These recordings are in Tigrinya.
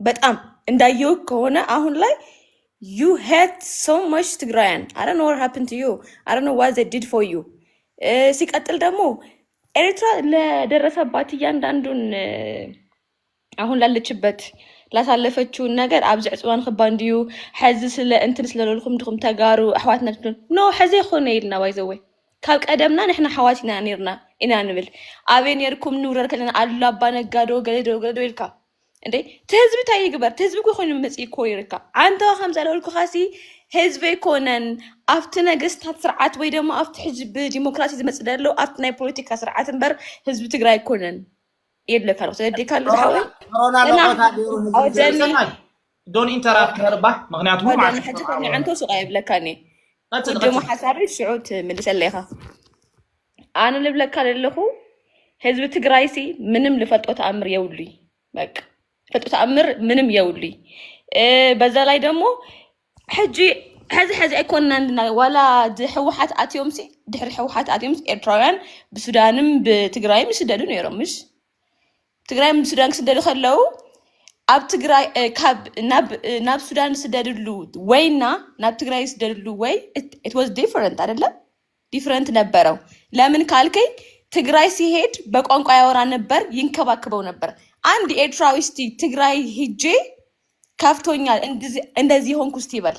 በጣም እንዳየሁ ከሆነ አሁን ላይ ዩ ሄት ሶ ማች ትግራያን አረ ኖ ወር ሃፕን ቱ ዩ አረ ኖ ዋት ዘ ዲድ ፎር ዩ። ሲቀጥል ደግሞ ኤርትራ ለደረሰባት እያንዳንዱን እ፣ አሁን ላለችበት ላሳለፈችውን ነገር ኣብዚ ዕፅዋ ንክባ እንድዩ ሐዚ ስለ እንትን ስለለልኩም ድኹም ተጋሩ ኣሕዋትና ትብሉ ኖ ሐዚ ይኮነ ኢልና ባይዘወይ ካብ ቀደምና ንሕና ኣሕዋት ኢና ነርና ኢና ንብል ኣበይ ነርኩም ንውረር ከለና ኣሉላ ኣባ ነጋዶ ገለዶ ገለዶ ኢልካ እንዴ ትህዝቢ እንታይ ይግበር ትህዝቢ እኮ ኮይኑ መፅኢ እኮ ይርከብ ዓንተዋ ከም ዘለውልኩኻሲ ህዝቢ ኣይኮነን ኣብቲ ነገስታት ስርዓት ወይ ድማ ኣብቲ ሕዚ ብዲሞክራሲ ዝመፅእ ዘሎ ኣብቲ ናይ ፖለቲካ ስርዓት እምበር ህዝቢ ትግራይ ኣይኮነን የድለካ ኣለኩ ስለዴካ ኣሎ ዝሓወይ ኮሮና እና መቆታ ገይሩ ህዝቢ ኣወደኒ ዘይሰማይ ዶን ኢንተራፕት ነርባ ምክንያቱ ሕጂ ከንዕንቶ ሱቅ ኣይብለካኒ ጀሞ ሓሳቢ ሽዑ ትምልሰለ ኢኻ ኣነ ልብለካ ዘለኹ ህዝቢ ትግራይ ሲ ምንም ልፈልጦ ተኣምር የብሉይ በቃ ፈልጦ ተኣምር ምንም የብሉይ በዛ ላይ ደግሞ ሕጂ ሕዚ ሕዚ ኣይኮንና እንድና ዋላ ህወሓት ኣትዮም ሲ ድሕሪ ህወሓት ኣትዮም ኤርትራውያን ብሱዳንም ብትግራይም ይስደዱ ነይሮም ምሽ ትግራይ ምስ ሱዳን ክስደዱ ከለው ኣብ ትግራይ እ፣ ካብ ናብ እ፣ ናብ ሱዳን ዝስደድሉ ወይና ናብ ትግራይ ዝስደድሉ ወይ ኢት ዋዝ ዲፈረንት አይደለም ዲፈረንት ነበረው። ለምን ካልከኝ ትግራይ ሲሄድ በቋንቋ ያወራ ነበር፣ ይንከባከበው ነበር። አንድ ኤርትራዊ እስቲ ትግራይ ሂጄ ከፍቶኛል እንድዚ- እንደዚህ ሆንኩ እስቲ ይበል።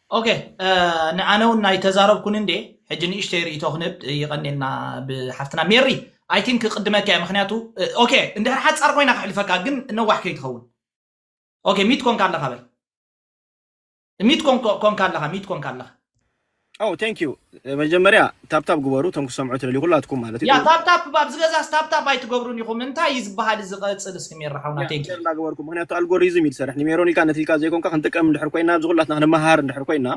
ኦኬ ን ኣነ ውን ኣይተዛረብኩን እንዴ ሕጂ ንእሽተይ ሪኢቶ ክንህብ ይቀኔልና ብ ሓፍትና ሜሪ ኣይ ቲንክ ክቅድመኪ ኣየ ምክንያቱ ኦኬ እንድሕር ሓጻር ኮይና ከሕልፈካ ግን ነዋሕ ከይትከውን ኦኬ ሚት ኮንካ ኣለካ በል ሚት ኮንካ ኣለካ ሚት ኮንካ ኣለካ ኦው ቴንኪው መጀመርያ ታፕታፕ ግበሩ እቶም ክትሰምዑ ትደልዩ ኩላትኩም ማለት እዩ። ያ ታፕታፕ ብ ኣብዚ ገዛስ ታፕታፕ ኣይትገብሩን ኢኹም እንታይ እዩ ዝበሃል እዚ ቀጽል እስኪ ሜራ ሓውና ያ ቴንኪው። ሸር እንዳገበርኩም ምክንያቱ ኣልጎሪዝም እዩ ዝሰርሕ ንሜሮን ኢልካ ነቲ ኢልካ ዘይኮንካ ክንጥቀም እንድሕር ኮይና ኣብዚ ኩላትና ክንመሃር እንድሕር ኮይና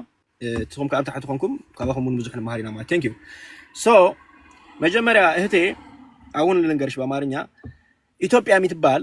ንስኹም ከኣ ኣብ ታሕቲ ኮንኩም ካባኹም ውን ብዙሕ ንመሃር ኢና ማለት ቴንኪው ሶ መጀመርያ እህቴ ኣውን ልንገርሽ ብኣማርኛ ኢትዮጵያ ምትባል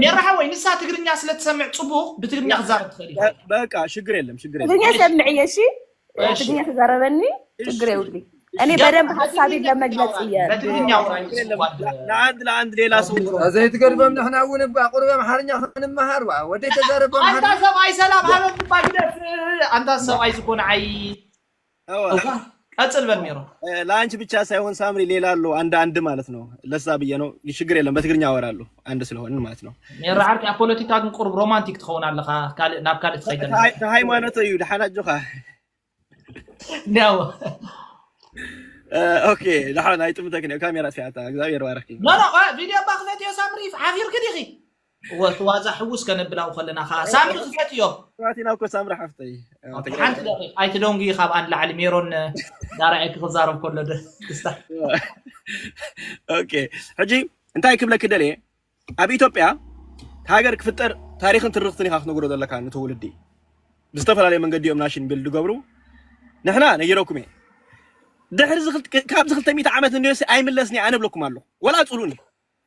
ሜራ ሓወይ ንሳ ትግርኛ ስለ ትሰምዕ ፅቡቕ ብትግርኛ ክዛረብ ትኽእል እዩ በቃ ሽግር የለም ሽግር የለም ትግርኛ ሰምዕ እየ እሺ እሺ ትግርኛ ተዛረበኒ ችግር የብሉ እኔ ገባ በደንብ ሀሳቤን በትግርኛ ለመግለጽ አውራኝ እየ በትግርኛ አውራኝ ሽግር የለም ስዋድ ለ- ለአንድ ለአንድ ሌላ ሰው ኦሮሞ እዛ ዘይትገድፎም ንሕና እውን እባ ቁሩብ ኣምሓርኛ ክንመሃር ዋ ወደይ ተዛረብ ኣንታ ኣምሓርኛ ሰብኣይ ሰላም ሃበ እባ ግደፍ ኣንታ ሰብኣይ ዝኾነ ዓይ እዋ ቀጽል በል ሜሮን። ለአንቺ ብቻ ሳይሆን ሳምሪ ሌላ አሉ አንድ አንድ ማለት ነው። ለዛ ብዬ ነው። ችግር የለም በትግርኛ አወራለሁ አንድ ስለሆንን ማለት ነው። ሜሮ ዓርኪ ኣብ ፖለቲካ ግን ቁሩብ ሮማንቲክ ትኸውን ኣለኻ ካልእ ናብ ካልእ ትኸይድ ኣለኻ ታይ- ታይ ሃይማኖት እዩ ደሓን ኣጆኻ ያው እ፣ ኦኬ ደሓን ኣይጥምተክን እዩ ካሜራ ስያታ እግዚኣብሔር ባረኪ ኖ ኖ ቆይ፣ ቪድዮ እባ ክፈትዮ ሳምሪ ሓፊርኪ ዲኺ እወ እቲ ዋዛ ሕውስ ከነብል ኣብኡ ከለና ከኣ ሳምሪ ክፈትዮ ስማዕቲና እኮ ሳምሪ ሓፍተይ ኣብ ትግራይ ሓንቲ ደቂቕ ኣይትደንጉዩ ካብኣ ንላዕሊ ሜሮን ዳራኤ ክዛረብ ከሎ ደ- ደስታ ኦኬ ሕጂ እንታይ ክብለኪ ደልየ ኣብ ኢትዮጵያ ሃገር ክፍጠር ታሪክን ትርክትን ኢካ ክትነግሮ ዘለካ ንትውልዲ ብዝተፈላለየ መንገዲ እዮም ናሽን ቢል ዝገብሩ ንሕና ነጊረኩም እየ ድሕሪ እዚ ክልተ- ካብዚ 200 ዓመት እንድዮሲ ኣይምለስን እየ ኣነ እብለኩም ኣለኹ ወላ ፅሉኒ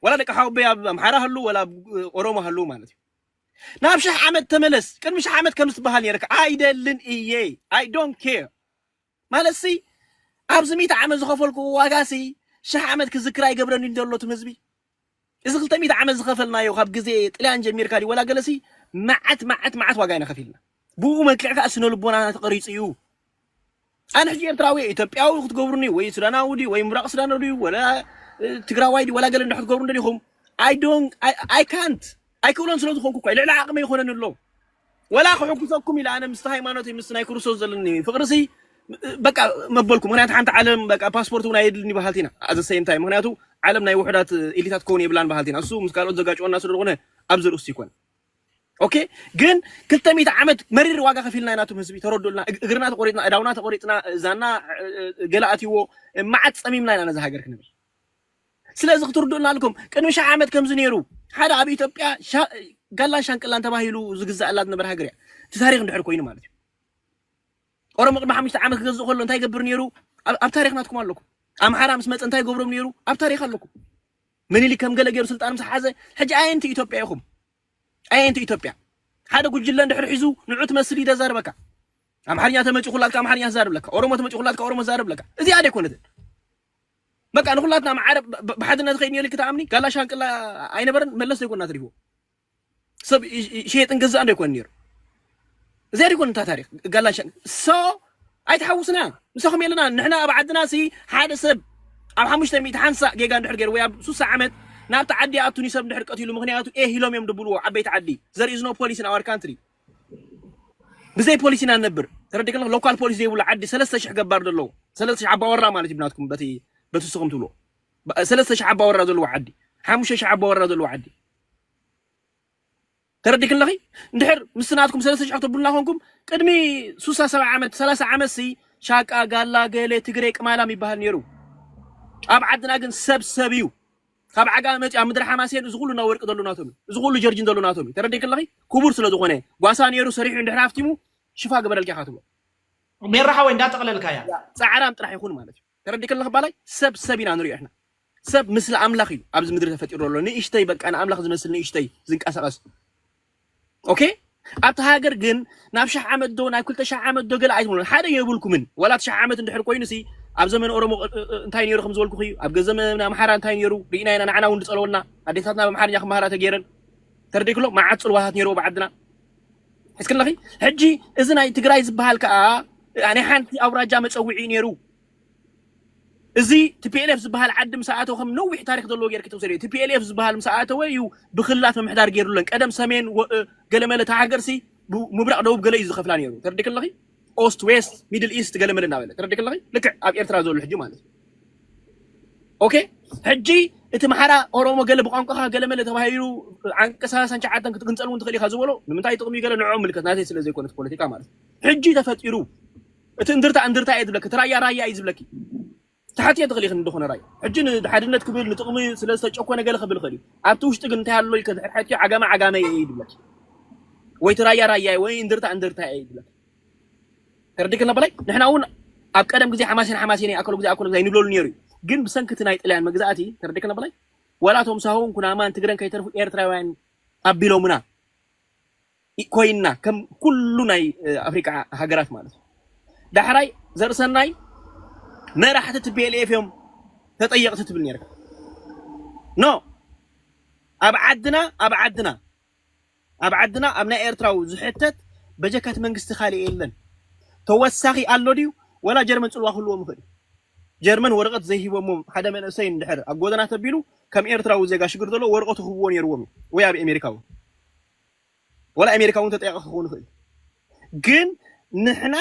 ወላ ደቂ ሓወቦይ ኣብ ኣምሓራ ሃልው ወላ ኣብ ኦሮሞ ሃልው ማለት እዩ ናብ ሽሕ ዓመት ተመለስ ቅድሚ ሽሕ ዓመት ከም ዝትበሃል ነይረካ ኣይደልን እየ ኣይ ዶንት ኬር ማለት ሲ ኣብዚ ሚእቲ ዓመት ዝኸፈልኩዎ ዋጋ ሲ ሽሕ ዓመት ክዝክር ኣይገብረኒ ዘሎ ትም ህዝቢ እዚ ክልተ ሚእቲ ዓመት ዝኸፈልናዮ ካብ ግዜ ጥልያን ጀሚርካ ድዩ ወላ ገለሲ መዓት መዓት መዓት ዋጋ ኢና ከፊልና ብኡ መልክዕ ከኣ ስነ ልቦናና ተቐሪጹ እዩ። ኣነ ሕጂ ኤርትራዊ እየ ኢትዮጵያዊ ክትገብሩኒ ወይ ሱዳናዊ ድዩ ወይ ምብራቕ ሱዳናዊ ድዩ ወላ ትግራዋይ ድዩ ወላ ገለ እንዶ ክትገብሩ ደሊኹም ኣይ ዶን ኣይ ካንት ኣይክእሎን ስለ ዝኾንኩ እኳ ልዕሊ ዓቕመይ ይኾነኒ ኣሎ ወላ ክሕጉሰኩም ኢለ ኣነ ምስቲ ሃይማኖተይ ምስ ናይ ክርስቶስ ዘለኒ ፍቕርሲ በቃ መበልኩ ምክንያቱ ሓንቲ ዓለም በቃ ፓስፖርት እውን ኣየድልኒ በሃልቲ ኢና ኣዘ ሰይም ታይም ምክንያቱ ዓለም ናይ ውሕዳት ኢሊታት ክኸውን የብላን በሃልቲ ኢና እሱ ምስ ካልኦት ዘጋጭወና ስለ ዝኾነ ኣብዚ ርእሱ ይኮነ ኦኬ ግን ክልተ ሚእቲ ዓመት መሪር ዋጋ ከፊልና ኢና ቶም ህዝቢ ተረድኡልና እግርና ተቆሪጥና እዳውና ተቆሪጥና እዛና ገለ ኣትይዎ መዓት ፀሚምና ኢና ነዚ ሃገር ክንብል ስለዚ ክትርድኡልና ኣልኩም ቅድሚ ሸሕ ዓመት ከምዚ ነይሩ ሓደ ኣብ ኢትዮጵያ ጋላን ሻንቅላን ተባሂሉ ዝግዛእላ ዝነበረ ሃገር እያ እቲ ታሪክ እንድሕር ኮይኑ ማለት እዩ ኦሮሞ ቅድሚ ሓሙሽተ ዓመት ክገዝእ ከሎ እንታይ ይገብር ነይሩ ኣብ ታሪክ ናትኩም ኣለኩም ኣምሓራ ምስ መፀ እንታይ ይገብሮም ነይሩ ኣብ ታሪክ ኣለኩም ምኒሊክ ከም ገለ ጌሩ ስልጣን ምስ ሓዘ ሕጂ ኣየንቲ ኢትዮጵያ ኢኹም ኣየንቲ ኢትዮጵያ ሓደ ጉጅለ እንድሕር ሒዙ ንዑ ትመስል ኢደ ዛርበካ ኣምሓርኛ ተመጺ ኩላትካ ኣምሓርኛ ዛርብለካ ኦሮሞ ተመጺ ኩላትካ ኦሮሞ ዛርብለካ እዚኣ ደይኮነትን በቃ ንኩላትና ማዓረ ብሓድነት ኸይድ ኔሩ ክትኣምኒ ጋላ ሻንቅላ ኣይነበረን መለስ ዘይኮና ትሪፍዎ ሰብ ሸየጥን ገዛእን ዶ ይኮን ነይሩ? እዚኣ ዶ ይኮን እታ ታሪክ ጋላን ሸን ሶ ኣይትሓውስና ምሳኹም የለና ንሕና ኣብ ዓድና ሲ ሓደ ሰብ ኣብ ሓሙሽተ ሚእቲ ሓንሳእ ጌጋ እንድሕር ገይሩ ወይ ኣብ ሱሳ ዓመት ናብቲ ዓዲ ኣቱኒ ሰብ እንድሕር ቀቲሉ ምክንያቱ ኤህ ኢሎም እዮም ድብልዎ ዓበይቲ ዓዲ ዘር ኢዝ ኖ ፖሊስ ን ኣወር ካንትሪ ብዘይ ፖሊስ ኢና ንነብር ተረዲእ ከለካ ሎካል ፖሊስ ዘይብሉ ዓዲ ሰለስተ ሽሕ ገባር ዘለዎ ሰለስተ ሽሕ ኣባወራ ማለት እዩ ብናትኩም በቲ በቲ ንስኹም ትብልዎ ሰለስተ ሽሕ ኣባወራ ዘለዎ ዓዲ ሓሙሽተ ሽሕ ኣባወራ ዘለዎ ዓዲ ተረዲክን ኣለኺ እንድሕር ምስ ናትኩም ሰለስተ ሽሕ ክትብሉና ኮንኩም ቅድሚ ሱሳ ሰብዓ ዓመት ሰላሳ ዓመት ሲ ሻቃ ጋላ ገሌ ትግሬ ቅማላም ይበሃል ነይሩ ኣብ ዓድና ግን ሰብ ሰብ እዩ ካብ ዓጋ መፂ ኣብ ምድሪ ሓማሴን እዚ ኩሉ እና ወርቂ ዘሎ ናቶም እዩ እዚ ኩሉ ጀርጂን ዘሎ ናቶም እዩ ተረዲክ ኣለኺ ክቡር ስለ ዝኾነ ጓሳ ነይሩ ሰሪሑ እንድሕር ሃፍቲሙ ሽፋ ግበረልካ ኢኻ ትብሎ ሜራ ሓወይ እንዳጠቕለልካያ ያ ፃዕራም ጥራሕ ይኹን ማለት እዩ ተረዲእኪ ኣለኺ ባላይ ሰብ ሰብ ኢና ንሪኦ ንሕና ሰብ ምስሊ ኣምላኽ እዩ ኣብዚ ምድሪ ተፈጢሩ ዘሎ ንእሽተይ በቃ ንኣምላኽ ዝመስል ንእሽተይ ዝንቀሳቐስ ኦኬ ኣብቲ ሃገር ግን ናብ ሽሕ ዓመት ዶ ናብ ክልተ ሽሕ ዓመት ዶ ገለ ኣይትብሉን ሓደ የብልኩምን ዋላ ትሽሕ ዓመት እንድሕር ኮይኑ ሲ ኣብ ዘመን ኦሮሞ እንታይ ነይሩ ከም ዝበልኩ እዩ ኣብ ገዘመን ኣምሓራ እንታይ ነይሩ ርኢና ኢና ንዓና እውን ዝፀለወልና ኣዴታትና ብኣምሓርኛ ክመሃራ ተገይረን ተርዲክሎ መዓት ፅልዋታት ነይርዎ ብዓድና ሒዝኪ ኣለኺ ሕጂ እዚ ናይ ትግራይ ዝበሃል ከኣ ናይ ሓንቲ ኣውራጃ መጸውዒ እዩ ነይሩ እዚ ቲፒኤልኤፍ ዝበሃል ዓዲ ምስ ኣተወ ከም ነዊሕ ታሪክ ዘለዎ ጌርኪ ተውሰድዮ ቲፒኤልኤፍ ዝበሃል ምስ ኣተወ እዩ ብክልላት ምምሕዳር ገይሩለን ቀደም ሰሜን ገለመለ እታ ሃገርሲ ምብራቅ ደቡብ ገለ እዩ ዝኸፍላ ነይሩ ተርዲክ ኣለኺ ኦስት ዌስት ሚድል ኢስት ገለ መለ እናበለ ተረዲክ ኣለኺ ልክዕ ኣብ ኤርትራ ዘሎ ሕጂ ማለት እዩ ኦኬ ሕጂ እቲ መሓራ ኦሮሞ ገለ ብቋንቋኻ ገለ መለ ተባሂሉ ዓንቀ ሰላሳን ሸዓተን ክትግንፀል እውን ትኽእል ኢኻ ዝበሎ ንምንታይ ጥቕሚ ገለ ንዕኦም ምልከት ናተይ ስለ ዘይኮነት ፖለቲካ ማለት ሕጂ ተፈጢሩ እቲ እንድርታ እንድርታ እየ ዝብለኪ እቲ ራያ ራያ እዩ ዝብለኪ ክትሓትዮ ትኽእሊ ኢኺ ንድኹነ ራይ ሕጂ ንሓድነት ክብል ንጥቕሚ ስለ ዝተጨኮነ ገለ ክብል ይኽእል እዩ ኣብቲ ውሽጢ ግን እንታይ ኣሎ ኢልኪ እንድሕር ሓቲትዮ ዓጋመ ዓጋመ እየ እዩ ዝብለኪ ወይ እቲ ራያ ራያ እየ ወይ እንድርታ እንድርታ እየ እዩ ዝብለኪ ተረዲኪ ነበላይ ንሕና እውን ኣብ ቀደም ግዜ ሓማሴን ሓማሴን ኣከሎ ግዜ ኣከሎ ግዜ ኣይንብለሉ ነይሩ እዩ ግን ብሰንኪ እቲ ናይ ጥልያን መግዛእቲ ተረዲኪ ነበላይ ዋላ እቶም ሳሆን ኩናማን ትግረን ከይተርፉ ኤርትራውያን ኣቢሎምና ኮይና ከም ኩሉ ናይ ኣፍሪቃ ሃገራት ማለት እዩ። ዳሕራይ ዘርእሰናይ መራሕቲ ቲፒኤልኤፍ እዮም ተጠየቕቲ ትብል ነይርካ ኖ ኣብ ዓድና ኣብ ዓድና ኣብ ዓድና ኣብ ናይ ኤርትራዊ ዝሕተት በጀካት መንግስቲ ካልእ የለን ተወሳኺ ኣሎ ድዩ ወላ ጀርመን ጽልዋ ክህልዎም ይኽእል እዩ ጀርመን ወረቐት ዘይሂቦሞ ሓደ መንእሰይ እንድሕር ኣብ ጎደና ተቢሉ ከም ኤርትራዊ ዜጋ ሽግር ዘሎ ወረቐቱ ክህብዎ ነይርዎም እዩ ወይ ኣብ ኣሜሪካ እውን ወላ ኤሜሪካ ውን ተጠያቂ ክከውን ይክእል ግን ንሕና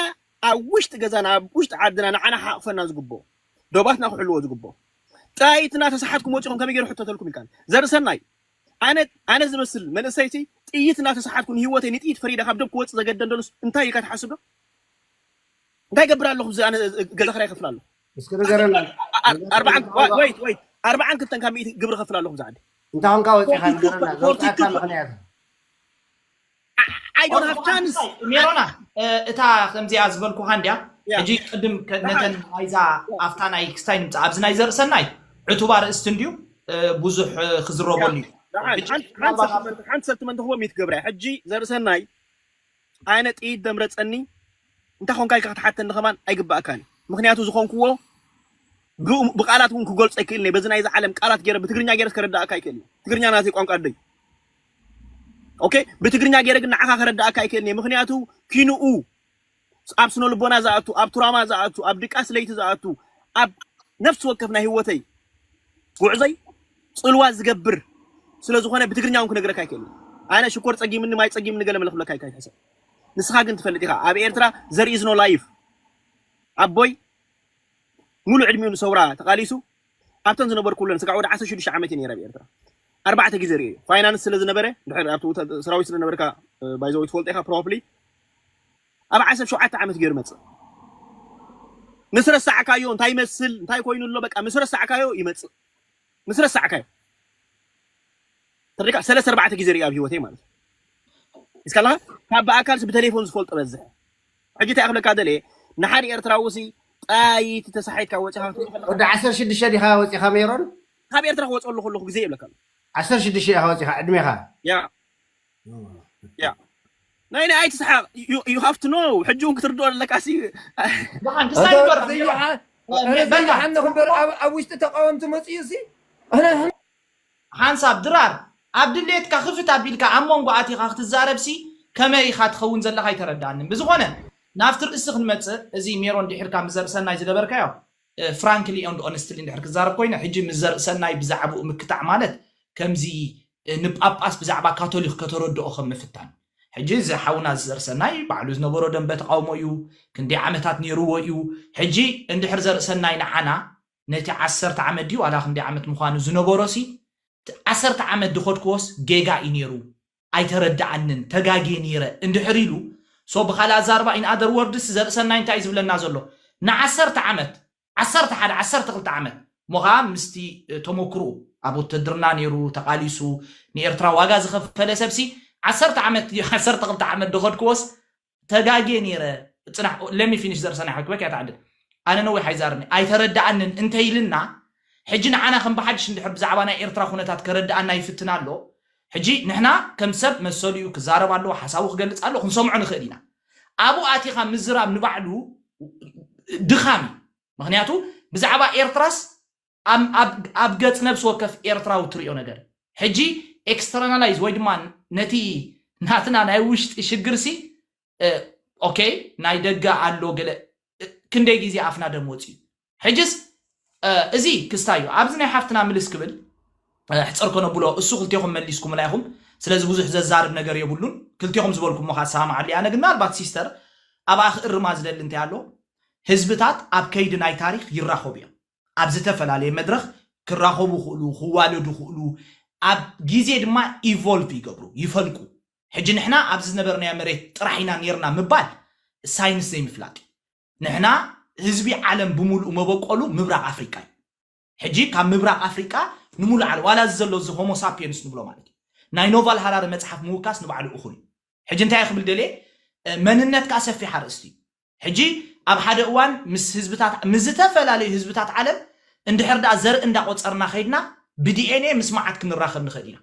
ኣብ ውሽጢ ገዛና ኣብ ውሽጢ ዓድና ንዓና ክሓቅፈና ዝግብኦ ዶባትና ክሕልዎ ዝግብኦ ጥይትና ተሳሓትኩም ወጺኩም ከመይ ገሩ ሕተተልኩም ኢልካ ዘርእሰናይ ኣነ ኣነ ዝመስል መንእሰይቲ ጥይት እናተሳሓትኩ ንሂወተይ ንጥይት ፈሪደ ካብ ደብ ክወጽእ ዘገደን ደሉስ እንታይ ኢልካ ትሓስብ ዶ እንታይ ገብር ኣለኹ እዚ ኣነ ገዛ ክራይ ይኸፍል ኣለኹ እስኪ ንገረና ንገረና እንታይ ኮንካ ወይት ወይት ኣርባዓን ክልተን ካብ ሚእቲ ግብሪ ከፍል ኣለኹ ዛዓዲ እንታይ ኮንካ ወፂኻ ንገረና ዘውፅኣካ ምኽንያት I don't have chance ሜሮና እ፣ እታ ከምዚኣ ዝበልኩኻ እንድያ Yeah. ሕጂ ቅድም ከ- ነተን ናይዛ ኣብታ ናይ ክስታይ ንምፃ ኣብዚ ናይ ዘርእሰናይ ዕቱባ ርእስቲ እንድዩ እ፣ ብዙሕ እ፣ ክዝረበሉ እዩ ዳሓን ሕጂ ሓንቲ ሓንቲ ምናልባት ኣብ ሰልትመንት ሓንቲ ሰልትመንት ክቦ ሚት ገብርያ ሕጂ ዘርእሰናይ ኣነ ጥይት ደምረጸኒ እንታይ ኮንካ ኢልካ ክትሓተኒ ከማን ኣይግባኣካን እዩ ምክንያቱ ዝኮንክዎ ብቃላት ውን ክገልጾ ኣይክእልን እየ በዚ ናይዚ ዓለም ቃላት ገይረ ብትግርኛ ገይረስ ከረዳኣካ ኣይክእልን እየ ትግርኛ ናተይ ቋንቋ ኣደይ ኦኬ ብትግርኛ ገይረ ግን ንዓኻ ከረዳኣካ ኣይክእልን እየ ምክንያቱ ኪንኡ ኣብ ስነ ልቦና ዝኣቱ ኣብ ቱራማ ዝኣቱ ኣብ ድቃስ ለይቲ ዝኣቱ ኣብ ነፍሲ ወከፍ ናይ ህይወተይ ጉዕዘይ ጽልዋ ዝገብር ስለ ዝኾነ ብትግርኛ እውን ክነግረካ ኣይክእልን። ኣነ ሽኮር ጸጊምኒ ማይ ጸጊምኒ ገለ መለ ክብለካ ኣይካይትሕሰብ። ንስኻ ግን ትፈልጥ ኢኻ ኣብ ኤርትራ ዘር ኢዝ ኖ ላይፍ ኣቦይ ሙሉእ ዕድሚኡ ንሰውራ ተቓሊሱ ኣብተን ዝነበርኩለን ስጋዕ ወደ ዓሰርተ ሽዱሽተ ዓመት እየ ነይረ ኣብ ኤርትራ ኣርባዕተ ግዜ ርእየ ፋይናንስ ስለ ዝነበረ ድሕር ኣብቲ ውተ- ሰራዊት ስለ ነበርካ ባይዘወይ ትፈልጦ ኢኻ ፕሮባብሊ ኣብ ዓሰርተ ሸውዓተ ዓመት ገይሩ መጽእ ምስ ረሳዕካዮ እንታይ ይመስል እንታይ ኮይኑ ኣሎ በቃ ምስ ረሳዕካዮ ይመጽእ ምስ ረሳዕካዮ ተሪካ ሰለስተ ኣርባዕተ ግዜ ሪኣ ኣብ ሂወተይ ማለት እስካ ኣለካ ካብ ብኣካልሲ ብተሌፎን ዝፈልጦ በዝሕ ሕጂ እንታይ ክብለካ ደልየ ንሓደ ኤርትራዊ ሲ ጣይቲ ተሳሒትካ ወጺኻ ወዲ ዓሰርተ ሽዱሽተ ዲኻ ወጺኻ ሜሮን ካብ ኤርትራ ክወጽ ኣለኹ ኣለኹ ግዜ ይብለካ ኣሎ ዓሰርተ ሽዱሽተ ኢኻ ወጺኻ ዕድሜኻ ያ ያ ናይ ናይ ኣይትስሓቕ ዩ ሃቭ ቱ ኖው ሕጂ እውን ክትርድኦ ኣለካ ሲ ብሓን ክሳብ እንተ ይበር ዘይሓ ዘይሓ እረ በላ ዘይሓንኹ ክሳብ እምበር ድራር ኣብ ኣብ ውሽጢ ተቃወምቲ መጺኡ ሲ ኣነ ሓንሳብ ድራር ኣብ ድሌትካ ክፍት ኣቢልካ ኣብ መንጎ ኣቲኻ ክትዛረብ ሲ ከመይ ኢኻ ትኸውን ዘለኻ ኣይተረድኣንን ብዝኾነ ናብቲ ርእሲ ክንመጽእ እዚ ሜሮን ድሒርካ ምስ ዘርእሰናይ ዝገበርካዮ ፍራንክሊ ኤንድ ኦነስትሊ እንድሕር ክዛረብ ኮይነ ሕጂ ምስ ዘርእሰናይ ብዛዕብኡ ምክታዕ ማለት ከምዚ ንጳጳስ ብዛዕባ ካቶሊኽ ከተረድኦ ከም ምፍታን። ሕጂ እዚ ሓውና ዘርእሰናይ ባዕሉ ዝነበሮ ደምበ ተቓውሞ እዩ፣ ክንደይ ዓመታት ኔርዎ እዩ፣ ሕጂ እንድሕር ዘርእሰናይ ንዓና ነቲ ዓሰርተ ዓመት ድዩ ዋላ ክንደይ ዓመት ምዃኑ ዝነበሮሲ ዓሰርተ ዓመት ድኸድክዎስ ጌጋ እዩ ኔሩ ኣይተረድኣንን ተጋግየ ኔረ እንድሕር ኢሉ so ብኻልእ ኣዛርባ in other words ዘርእሰናይ እንታይ እዩ ዝብለና ዘሎ ንዓሰርተ ዓመት ዓሰርተ ሓደ ዓሰርተ ክልተ ዓመት እሞ ከኣ ምስቲ ተሞክርኡ ኣብ ውትህድርና ኔሩ ተቃሊሱ ንኤርትራ ዋጋ ዝኸፈለ ሰብሲ ዓሰርተ ዓመት ድዩ ዓሰርተ ክልተ ዓመት ድኸድክዎስ ተጋጌ ኔረ ጽናሕ let me finish ዘርሰናይ ሓውኪ በኪ ኣይትዓድል ኣነ ነዊሕ ኣይዛርብን ኣይተረድኣንን እንተ ኢልና ሕጂ ንዓና ከም ብሓድሽ እንድሕር ብዛዕባ ናይ ኤርትራ ኩነታት ከረድኣና ይፍትን ኣሎ ሕጂ ንሕና ከም ሰብ መሰሉ እዩ ክዛረብ ኣለዎ ሓሳቡ ክገልጽ ኣለዎ ክንሰምዖ ንኽእል ኢና ኣብኡ ኣቲኻ ምዝራብ ንባዕሉ ድኻም እዩ ምኽንያቱ ብዛዕባ ኤርትራስ ኣብ ገጽ ነብሲ ወከፍ ኤርትራዊ እትሪኦ ነገር እዩ ሕጂ ኤክስተርናላይዝ ወይ ድማ ነቲ ናትና ናይ ውሽጢ ሽግርሲ ኦኬ ናይ ደገ ኣሎ ገለ ክንደይ ግዜ ኣፍና ደም ወጽዩ ሕጅስ እዚ ክስታይ እዩ ኣብዚ ናይ ሓፍትና ምልስ ክብል ሕጽር ከነብሎ እሱ ክልቴኹም መሊስኩምላ ኢኹም ስለዚ ብዙሕ ዘዛርብ ነገር የብሉን ክልቴኹም ዝበልኩሞ ከኣ ትሰማማዓሉ ኣነ ግን ምናልባት ሲስተር ኣብኣ ክእርማ ዝደሊ እንታይ ኣሎ ህዝብታት ኣብ ከይዲ ናይ ታሪኽ ይራኸቡ እዮም ኣብ ዝተፈላለየ መድረኽ ክራኸቡ ይኽእሉ ክዋለዱ ይኽእሉ ኣብ ግዜ ድማ ኢቮልቭ ይገብሩ ይፈልቁ ሕጂ ንሕና ኣብዚ ዝነበርናዮ መሬት ጥራሕ ኢና ኔርና ምባል ሳይንስ ዘይምፍላጥ እዩ ንሕና ህዝቢ ዓለም ብምሉኡ መበቆሉ ምብራቕ ኣፍሪቃ እዩ። ሕጂ ካብ ምብራቕ ኣፍሪቃ ንሙሉእ ዓለም ዋላ እዚ ዘሎ እዚ ሆሞ ሳፒየንስ ንብሎ ማለት እዩ። ናይ ኖቫል ሃራሪ መጽሓፍ ምውካስ ንባዕሉ እኹል እዩ። ሕጂ እንታይ እየ ክብል ደልየ መንነት ከኣ ሰፊሕ ኣርእስቲ እዩ። ሕጂ ኣብ ሓደ እዋን ምስ ህዝብታት ምስ ዝተፈላለዩ ህዝብታት ዓለም እንድሕር ደኣ ዘርኢ እንዳቆጸርና ከይድና ብዲኤንኤ ምስ መዓት ክንራኸብ ንኽእል ኢና።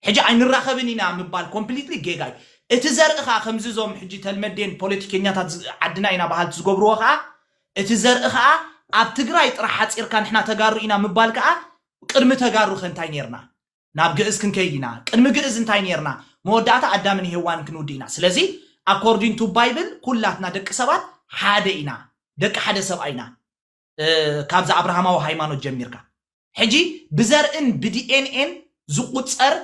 ሕጂ ኣይንራኸብን ኢና ምባል ኮምፕሊትሊ ጌጋ እዩ። እቲ ዘርኢ ከኣ ከምዚ እዞም ሕጂ ተልመዴን ፖለቲከኛታት ዓድና ኢና በሃልቲ ዝገብርዎ ከኣ እቲ ዘርኢ ከኣ ኣብ ትግራይ ጥራሕ ሓጺርካ ንሕና ተጋሩ ኢና ምባል ከኣ ቅድሚ ተጋሩ ከ እንታይ ኔርና? ናብ ግእዝ ክንከይድ ኢና። ቅድሚ ግእዝ እንታይ ኔርና? መወዳእታ ኣዳምን ሄዋንን ክንውድእ ኢና። ስለዚ ኣኮርዲን ቱ ባይብል ኩላትና ደቂ ሰባት ሓደ ኢና። ደቂ ሓደ ሰብኣይ ኢና። ካብዛ ኣብርሃማዊ ሃይማኖት ጀሚርካ ሕጂ ብዘርእን ብዲኤንኤን ዝቑጸር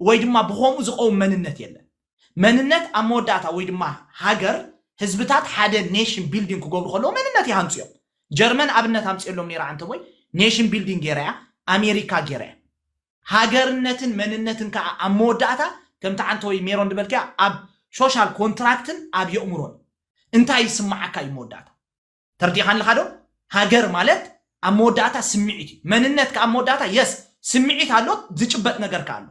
ወይ ድማ ብኸምኡ ዝቐውም መንነት የለን። መንነት ኣብ መወዳእታ ወይ ድማ ሃገር ህዝብታት ሓደ ኔሽን ቢልዲንግ ክገብሩ ከለዉ መንነት ይሃንጹ እዮም። ጀርመን ኣብነት ኣምጺኤሎም ነይረ ዓንተቦይ ኔሽን ቢልዲንግ ገይራ እያ፣ ኣሜሪካ ገይራ እያ። ሃገርነትን መንነትን ከኣ ኣብ መወዳእታ ከምቲ ዓንተቦይ ሜሮን ዝበልክያ ኣብ ሾሻል ኮንትራክትን ኣብ የእሙሮን እዩ። እንታይ ይስመዓካ እዩ መወዳእታ። ተርዲእኻ ኣለኻ ዶ? ሃገር ማለት ኣብ መወዳእታ ስምዒት እዩ። መንነት ከኣ ኣብ መወዳእታ የስ ስምዒት ኣሎ ዝጭበጥ ነገር ከኣ ኣሎ።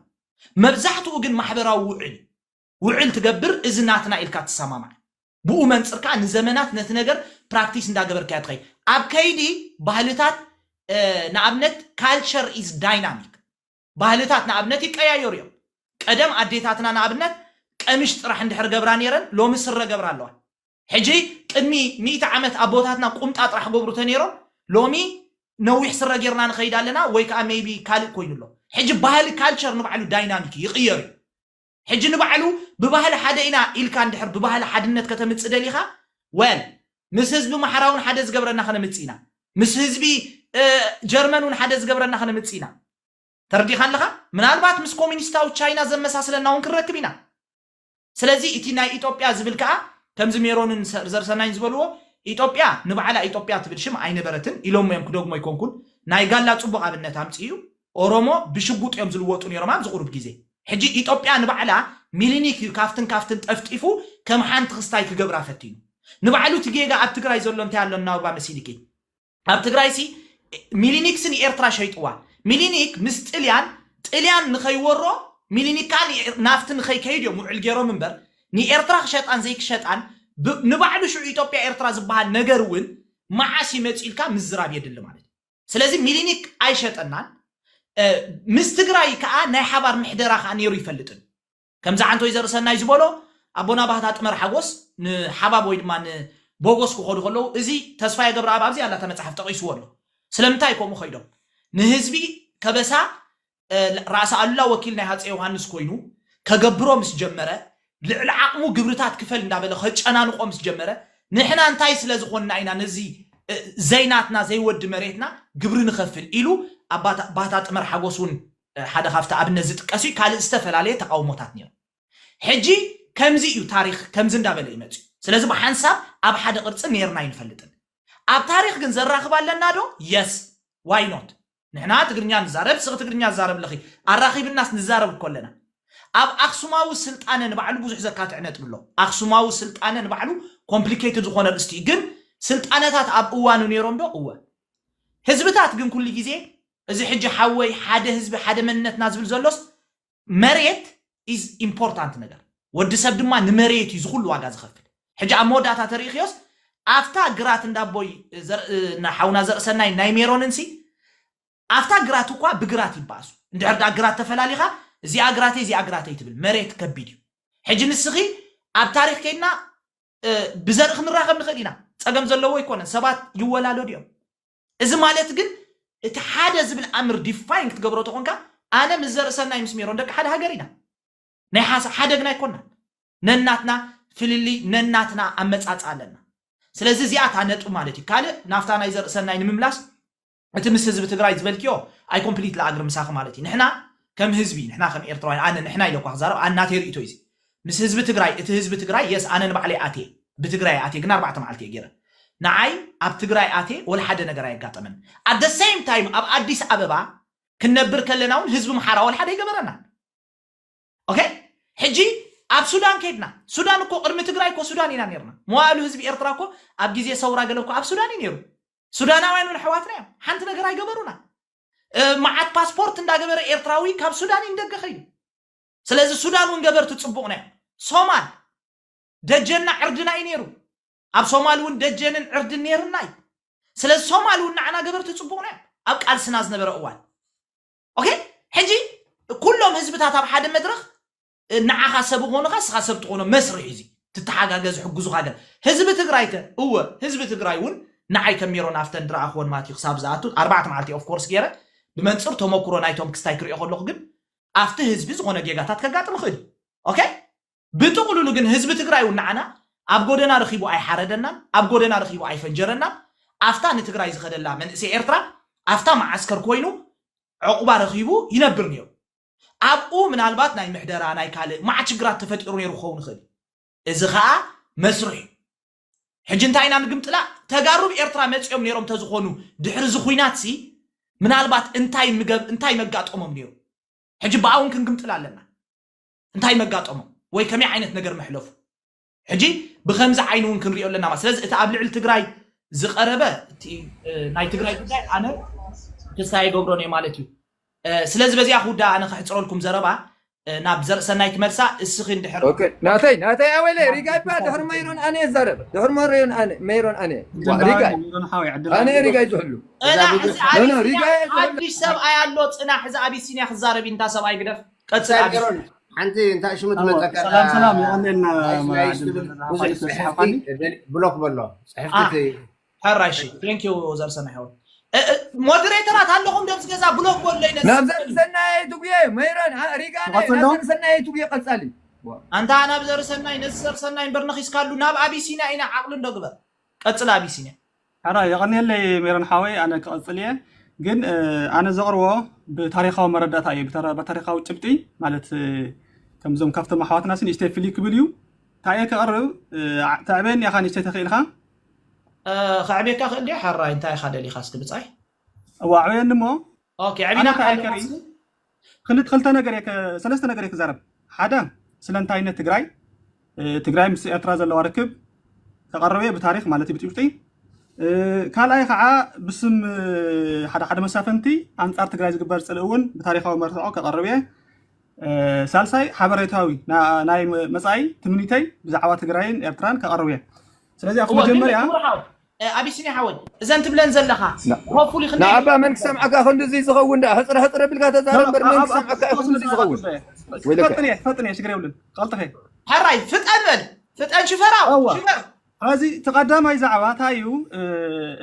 መብዛሕትኡ ግን ማሕበራዊ ውዕል እዩ። ውዕል ትገብር እዚ ናትና ኢልካ ትሰማማዕ። ብኡ መንጽር ከኣ ንዘመናት ነቲ ነገር ፕራክቲስ እንዳገበርካዮ ትኸይድ። ኣብ ከይዲ ባህልታት ንኣብነት ካልቸር ኢዝ ዳይናሚክ። ባህልታት ንኣብነት ይቀያየሩ እዮም ቀደም ኣዴታትና ንኣብነት ቀምሽ ጥራሕ እንድሕር ገብራ ኔረን ሎሚ ስረ ገብራ ኣለዋ ሕጂ ቅድሚ ሚእቲ ዓመት ኣቦታትና ቁምጣ ጥራሕ ገብሩ ተኔሮም ሎሚ ነዊሕ ስረ ጌርና ንኸይድ ኣለና ወይ ከኣ ሜይቢ ካልእ ኮይኑ ኣሎ ሕጂ ባህሊ ካልቸር ንባዕሉ ዳይናሚክ እዩ ይቅየር እዩ ሕጂ ንባዕሉ ብባህሊ ሓደ ኢና ኢልካ እንድሕር ብባህሊ ሓድነት ከተምጽእ ደሊኻ well ምስ ህዝቢ ኣምሓራ ውን ሓደ ዝገብረና ከነምጽእ ኢና ምስ ህዝቢ ጀርመን ውን ሓደ ዝገብረና ከነምጽእ ኢና ተረዲኻኒ ኣለኻ ምናልባት ምስ ኮሚኒስታዊ ቻይና ዘመሳስለና ውን ክንረክብ ኢና ስለዚ እቲ ናይ ኢትዮጵያ ዝብል ከኣ ከምዚ ሜሮንን ዘርሰናይን ዝበልዎ ኢትዮጵያ ንባዕላ ኢትዮጵያ ትብል ሽም ኣይነበረትን ኢሎሞ እዮም ክደግሞ ኣይኮንኩን ናይ ጋላ ጽቡቕ ኣብነት ኣምጽኡ እዩ ኦሮሞ ብሽጉጥ እዮም ዝልወጡ ኔሮም ኣብዚ ቁሩብ ግዜ ሕጂ ኢጦጵያ ንባዕላ ሚሊኒክ እዩ ካብትን ካብትን ጠፍጢፉ ከም ሓንቲ ክስታይ ክገብራ ፈቲኑ ንባዕሉ እቲ ጌጋ ኣብ ትግራይ ዘሎ እንታይ ኣሎ እናውባ መሲኒኪት ኣብ ትግራይሲ ሚሊኒክሲ ንኤርትራ ሸይጥዋ ሚሊኒክ ምስ ጥልያን ጥልያን ንኸይወሮ ሚሊኒክ ከኣ ናፍቲ ንኸይከይድ እዮም ውዕል ጌሮም እምበር ንኤርትራ ክሸጣን ዘይክሸጣን ብ ንባዕሉ ሽዑ ኢጦጵያ ኤርትራ ዝባሃል ነገር እውን ማዓስ እዩ መጺኡ ኢልካ ምዝራብ የድሊ ማለት እዩ። ስለዚ ሚሊኒክ ኣይሸጠናን ምስ ትግራይ ከዓ ናይ ሓባር ምሕደራ ከዓ ነይሩ ይፈልጥን ከምዚ ዓንተ ወይዘር ሰናይ ዝበሎ ኣቦና ባህታ ጥመር ሓጎስ ንሓባብ ወይ ድማ ንቦጎስ ክኸዱ ከለዉ እዚ ተስፋየ ገብረኣብ ኣብዚ ኣላ እታ መፅሓፍ ጠቒስዎ ኣሎ ስለምንታይ ከምኡ ከይዶም ንህዝቢ ከበሳ ራእሲ ኣሉላ ወኪል ናይ ሃፀይ ዮሃንስ ኮይኑ ከገብሮ ምስ ጀመረ፣ ልዕሊ ዓቕሙ ግብርታት ክፈል እንዳበለ ከጨናንቖ ምስ ጀመረ፣ ንሕና እንታይ ስለ ዝኾንና ኢና ነዚ ዘይናትና ዘይወዲ መሬትና ግብሪ ንኸፍል ኢሉ ኣብ ባህታ ጥመር ሓጎስ ውን ሓደ ካብቲ ኣብነት ዝጥቀስ እዩ ካልእ ዝተፈላለየ ተቓውሞታት ነይሩ። ሕጂ ከምዚ እዩ ታሪኽ ከምዚ እንዳበለ እዩ መፂኡ። ስለዚ ብሓንሳብ ኣብ ሓደ ቅርፂ ነይርና ኣይንፈልጥን። ኣብ ታሪኽ ግን ዘራኽብ ኣለና ዶ? Yes! Why not? ንሕና ትግርኛ ንዛረብ ስኺ ትግርኛ ዝዛረብ ኣለኺ ኣራኺብናስ ንዛረብ እኮ ኣለና ኣብ ኣኽሱማዊ ስልጣነ ንባዕሉ ብዙሕ ዘካትዕ ነጥቢ ኣሎ ኣኽሱማዊ ስልጣነ ንባዕሉ ኮምፕሊኬትድ ዝኾነ ኣርእስቲ እዩ ግን ስልጣነታት ኣብ እዋኑ ነይሮም ዶ እወ ህዝብታት ግን ኩሉ ግዜ እዚ ሕጂ ሓወይ ሓደ ህዝቢ ሓደ መንነትና ዝብል ዘሎስ መሬት ኢዝ ኢምፖርታንት ነገር ወዲ ሰብ ድማ ንመሬት እዩ ዝኹሉ ዋጋ ዝኸፍል ሕጂ ኣብ መወዳእታ ተሪኢኽዮስ ኣብታ ግራት እንዳቦይ እና ሓውና ዘርእሰናይ ናይ ሜሮንን ሲ ኣብታ ግራት እኳ ብግራት ይባእሱ እንድሕር ድኣ ግራት ተፈላሊኻ እዚኣ ግራተይ እዚኣ ግራተይ ትብል መሬት ከቢድ እዩ ሕጂ ንስኺ ኣብ ታሪኽ ከይድና ብዘርኢ ክንራኸብ ንኽእል ኢና ጸገም ዘለዎ ኣይኮነን ሰባት ይወላለዱ እዮም እዚ ማለት ግን እቲ ሓደ ዝብል ኣምር ዲፋይን ክትገብሮ ተኾንካ ኣነ ምስ ዘርእሰናይ ምስ ሜሮን ደቂ ሓደ ሃገር ኢና ናይ ሓሳብ ሓደ ግን ኣይኮናን ነናትና ፍልልይ ነናትና ኣመጻጽኣ ኣለና ስለዚ እዚኣ እታ ነጥቢ ማለት እዩ ካልእ ናፍታ ናይ ዘርእሰናይ ንምምላስ እቲ ምስ ህዝቢ ትግራይ ዝበልክዮ ኣይ ኮምፕሊትሊ ኣግሪ ምሳኺ ማለት እዩ ንሕና ከም ህዝቢ ንሕና ከም ኤርትራውያን ኣነ ንሕና ኢለ እኳ ክዛረብ ኣናተይ ርእይቶ እዩ እዚ ምስ ህዝቢ ትግራይ እቲ ህዝቢ ትግራይ የስ ኣነ ንባዕለይ ኣትየ ብትግራይ ኣትየ ግን ኣርባዕተ መዓልቲ እየ ገይረ ንዓይ ኣብ ትግራይ ኣትየ ወላ ሓደ ነገር ኣየጋጠመን ኣት the same time ኣብ ኣዲስ ኣበባ ክንነብር ከለና ውን ህዝቢ ምሓራ ወላ ሓደ ኣይገበረናን ኦኬ ሕጂ ኣብ ሱዳን ከይድና ሱዳን እኮ ቅድሚ ትግራይ እኮ ሱዳን ኢና ነርና መዋእሉ ህዝቢ ኤርትራ እኮ ኣብ ግዜ ሰውራ ገለ እኮ ኣብ ሱዳን እዩ ነይሩ ሱዳናውያን ውን ኣሕዋትና እዮም ሓንቲ ነገር ኣይገበሩና እ፣ መዓት ፓስፖርት እንዳገበረ ኤርትራዊ ካብ ሱዳን እዩ ንደገ ከይዱ ስለዚ ሱዳን ውን ገበርቲ ጽቡቕና እዮም። ሶማል ደጀንና ዕርድና እዩ ነይሩ። ኣብ ሶማል ውን ደጀንን ዕርድን ነይርና እዩ። ስለዚ ሶማል ውን ንዓና ገበርቲ ጽቡቕና እዮም ኣብ ቃልስና ዝነበረ እዋን። ኦኬ ሕጂ ኩሎም ህዝብታት ኣብ ሓደ መድረኽ ንዓኻ ሰብ ኾንኻ ንስኻ ሰብ ትኾኖ መስርሕ እዩ እዚ ትተሓጋገዝ ዝሕግዙኻ ገለ ህዝቢ ትግራይ ከ እወ ህዝቢ ትግራይ እውን ንዓይ ከም ሜሮን ኣፍተን ድረኣኽወን ማትዩ ክሳብ ዝኣቱ ኣርባዕተ መዓልቲ ኦፍ ኮርስ ገይረ ብመንፅር ተመኩሮ ናይቶም ክስታይ ክሪኦ ከለኹ ግን ኣፍቲ ህዝቢ ዝኾነ ጌጋታት ከጋጥም ይኽእል እዩ ኦኬ ብጥቕሉሉ ግን ህዝቢ ትግራይ እውን ንዓና ኣብ ጎደና ረኺቡ ኣይሓረደናን ኣብ ጎደና ረኺቡ ኣይፈንጀረናን ኣፍታ ንትግራይ ዝኸደላ መንእሰይ ኤርትራ ኣፍታ መዓስከር ኮይኑ ዕቑባ ረኺቡ ይነብር ነይሩ ኣብኡ ምናልባት ናይ ምሕደራ ናይ ካልእ ማዕት ሽግራት ተፈጢሩ ነይሩ ክኸውን ይኽእል እዩ እዚ ኸኣ መስርሕ እዩ ሕጂ እንታይ ኢና ንግምጥላ ተጋሩ ብ ኤርትራ መጺኦም ኔሮም ተዝኾኑ ድሕሪ እዚ ኹናት ሲ ምናልባት እንታይ ምገብ እንታይ መጋጠሞም ኔሩ ሕጂ ብኣ ውን ክንግምጥላ ኣለና እንታይ መጋጠሞም ወይ ከመይ ዓይነት ነገር መሕለፉ ሕጂ ብከምዚ ዓይኒ ውን ክንሪኦ ኣለና ማለት ስለዚ እቲ ኣብ ልዕሊ ትግራይ ዝቀረበ እቲ ናይ ትግራይ ጉዳይ ኣነ ክሳይ ገብሮን እየ ማለት እዩ ስለዚ በዚኣ ክውዳእ ኣነ ከሕፅረልኩም ዘረባ ናብ ዘርእሰናይ ትመልሳ እስኺ እንድሕር ኦኬ ናተይ ናተይ ኣወለ ሪጋ ይባ ድሕሪ መይሮን ኣነ ይዛረብ ድሕሪ መሪዮን ኣነ መይሮን ኣነ ሪጋ ኣነ ሪጋ ይዝሕሉ እና ሕዚ ኖ ኖ ሪጋ ኣቢሲንያ ይዝሕሉ ሓድሽ ሰብኣይ ኣሎ ፅና ሕዚ ኣቢሲንያ ክዛረብ እዩ እንታ ሰብኣይ ግደፍ ቀፅል ኣቢሲንያ ጌሮን ሓንቲ እንታይ ሽሙ ትመፀካ ሰላም ሰላም ይቀለልና ናይስ ናይስ ትብል ብዙሕ ፅሕፍቲ ብሎክ በሎ ፅሕፍቲ ሕራይ ሺ ቴንክ ዩ ዘርሰናይ ሓወይ ሞዴሬተራት ኣለኹም ደብዚ ገዛ ብሎክ በለይ ነዚ ናብ ዘርሰናይ ትጉየ መይረን ሪጋነ ናብ ትኸተሎ? ዘርሰናይ ትጉየ ቀጻሊ ኣንታ ናብ ዘርሰናይ ነዚ ዘርሰናይ እምበር ነኺስካሉ ናብ ኣቢሲንያ ኢና ዓቕሊ እንዶ ግበር ቀጽል ኣቢሲንያ ሕራይ የቐንየለይ ሜሮን ሓወይ ኣነ ክቐጽል እየ ግን እ፣ ኣነ ዘቕርቦ ብታሪኻዊ መረዳእታ እዩ ብታሪ- ብታሪኻዊ ጭብጢ ማለት እ፣ ከምዞም ካብቶም ኣሕዋትና ሲ ንእሽተይ ፍልይ ክብል እዩ እንታይ እየ ከቕርብ እ፣ ዓ- ተዕበየኒ ኢኻ ንእሽተይ ተኽኢልካ ከዕብየካ ይኽእል ድየ ሓራይ እንታይ ኢኻ ደሊኻ እስኪ ብፃይ እዋ ኣዕብየኒ እሞ ኦኬ ኣነ ዕቢና ከኣ ኣይከሪ ኣለና ክልተ ክልተ ነገር እየ ከ- ሰለስተ ነገር እየ ክዛረብ ሓደ ስለ እንታይነት ትግራይ እ፣ ትግራይ ምስ ኤርትራ ዘለዋ ርክብ ከቐርብ እየ ብታሪክ ማለት እዩ ብጭብጢ እ፣ ካልኣይ ከዓ ብስም እ፣ ሓደ ሓደ መሳፍንቲ ኣንጻር ትግራይ ዝግበር ፅልኢ እውን ብታሪካዊ መርትዖ ከቐርብ እየ ሳልሳይ ሓበሬታዊ ናይ መፃኢ ትምኒተይ ብዛዕባ ትግራይን ኤርትራን ከቐርብ እየ ስለዚ ኣብቲ መጀመርያ ኣቢሲኒ ሓወይ እዘን ትብለን ዘለኻ ሆፕፉሊ ክንደይ ንኣባ መን ክሰምዓካ ክንድዚ ዝኸውን ደኣ ሕፅረ ሕፅረ ቢልካ ተዛረብ እምበር መን ክሰምዓካ እዩ ክንድዚ ዝኸውን ፈጥን እየ ፈጥን እየ ሽግር የብልን ቀልጥፈ ሕራይ ፍጠን በል ፍጠን ሽፈራው ሽፈር ሐዚ እቲ ቀዳማይ ዛዕባ ታይ እዩ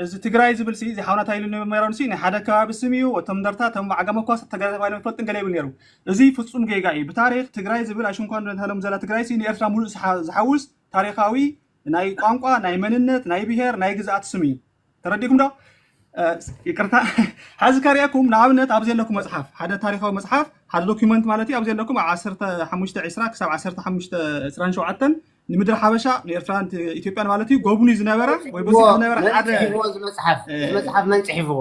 እዚ ትግራይ ዝብል ሲ እዚ ሓውና ታይ ኢሉ ነይሩ ኔሮን ሲ ናይ ሓደ ከባቢ ስም እዩ እቶም እንደርታ እቶም ዓጋመ እኳ ስ ተጋዳላይ ተባሂሎም ኣይፈልጡን ገለ ይብል ኔሩ እዚ ፍፁም ጌጋ እዩ ብታሪክ ትግራይ ዝብል ኣይሽንኳን ንእታሎም ዘላ ትግራይ ሲ ንኤርትራ ሙሉእ ዝሓውስ ታሪካዊ ናይ ቋንቋ ናይ መንነት ናይ ብሄር ናይ ግዝኣት ስም እዩ ተረዲኩም ዶ ይቅርታ ሓዚ ከሪኣኩም ንኣብነት ኣብ ዘለኩም መፅሓፍ ሓደ ታሪካዊ መፅሓፍ ሓደ ዶኪመንት ማለት እዩ ኣብ ዘለኩም ኣብ 15 20 ክሳብ 15 27 ንምድሪ ሓበሻ ንኤርትራን ኢትዮጵያን ማለት እዩ ጎብኒ ዝነበረ ወይ በፂሑ ዝነበረ ሓደ መፅሓፍ መፅሓፍ መን ፅሒፍዎ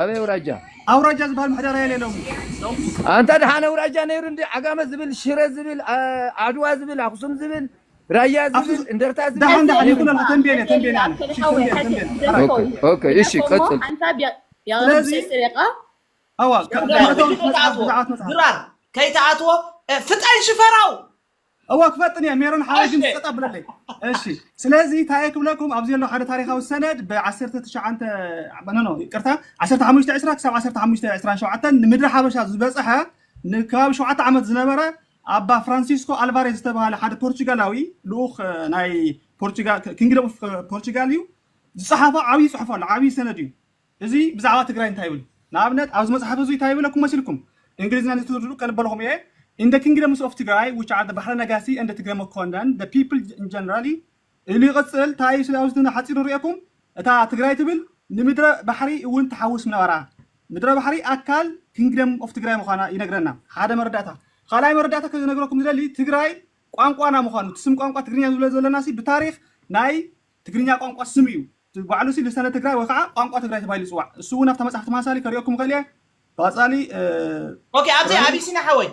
ኣበይ ኣውራጃ ኣውራጃ ዝበሃል ምሕደራ የለ ሎሚ ኣንታ ድሓን ኣውራጃ ነይሩ እንዲ ዓጋመ ዝብል ሽረ ዝብል ዓድዋ ዝብል ኣክሱም ዝብል ራያ ዝብል እንደርታ ዝብል ድሓን ድሓን ይኹን ኣለካ ተንቤን እየ ተንቤን ኣነ እሺ ተንቤን ተንቤን ኦኬ እሺ ቀጽል ስለዚ ኣዋ ብዛዕት መጽሓፍ ድራር ከይትኣትዎ ፍጠን ሽፈራው እወ ክፈጥን እየ ሜሮን ሓወይ ግን ጸጥ ኣብለለይ እሺ ስለዚ ታየ ክብለኩም ኣብዚ ዘሎ ሓደ ታሪኻዊ ሰነድ ብ19 ኖኖ ይቅርታ 15 ዕስራ ክሳብ 15 ዕስራን ሸውዓተን ንምድሪ ሓበሻ ዝበጽሐ ንከባቢ ሸውዓተ ዓመት ዝነበረ ኣባ ፍራንሲስኮ ኣልቫሬዝ ዝተባሃለ ሓደ ፖርቹጋላዊ ልኡኽ ናይ ፖርቹጋል ኪንግደም ኦፍ ፖርቹጋል እዩ ዝጸሓፎ ዓብዪ ጽሑፍ ኣሎ ዓብዪ ሰነድ እዩ እዚ ብዛዕባ ትግራይ እንታይ ይብል? ንኣብነት ኣብዚ መጽሓፍ እዙይ እንታይ ይብለኩም መሲልኩም? እንግሊዝኛ ንዝትርድኡ ከንበልኹም እየ፣ In the kingdoms of Tigray, which are the Bahre Nagasi and the Tigray Mokondan, the people generally ኢሉ ይቕጽል፣ እንታይ እዩ ስለ ኣብዚ ሓጺሩ ርእየኩም? እታ ትግራይ ትብል ንምድረ ባሕሪ እውን ትሓውስ ምነበራ፣ ምድረ ባሕሪ ኣካል ኪንግደም ኦፍ ትግራይ ምዃና ይነግረና፣ ሓደ መረዳእታ። ካልኣይ መረዳእታ ክነግረኩም ዝደሊ ትግራይ ቋንቋና ምዃኑ፣ እቲ ስም ቋንቋ ትግርኛ ዝብሎ ዘለናሲ ብታሪኽ ናይ ትግርኛ ቋንቋ ስም እዩ እቲ ባዕሉሲ ልሳነ ትግራይ ወይ ኻዓ ቋንቋ ትግራይ ተባሂሉ ይፅዋዕ እሱ እውን ኣብታ መፅሓፍቲ ማሳሊ ከሪኦኩም ይኸእል እየ ቃፃሊ ኦኬ ኣብዚ ርኣዩ። ኣቢሲንያ ሓወይ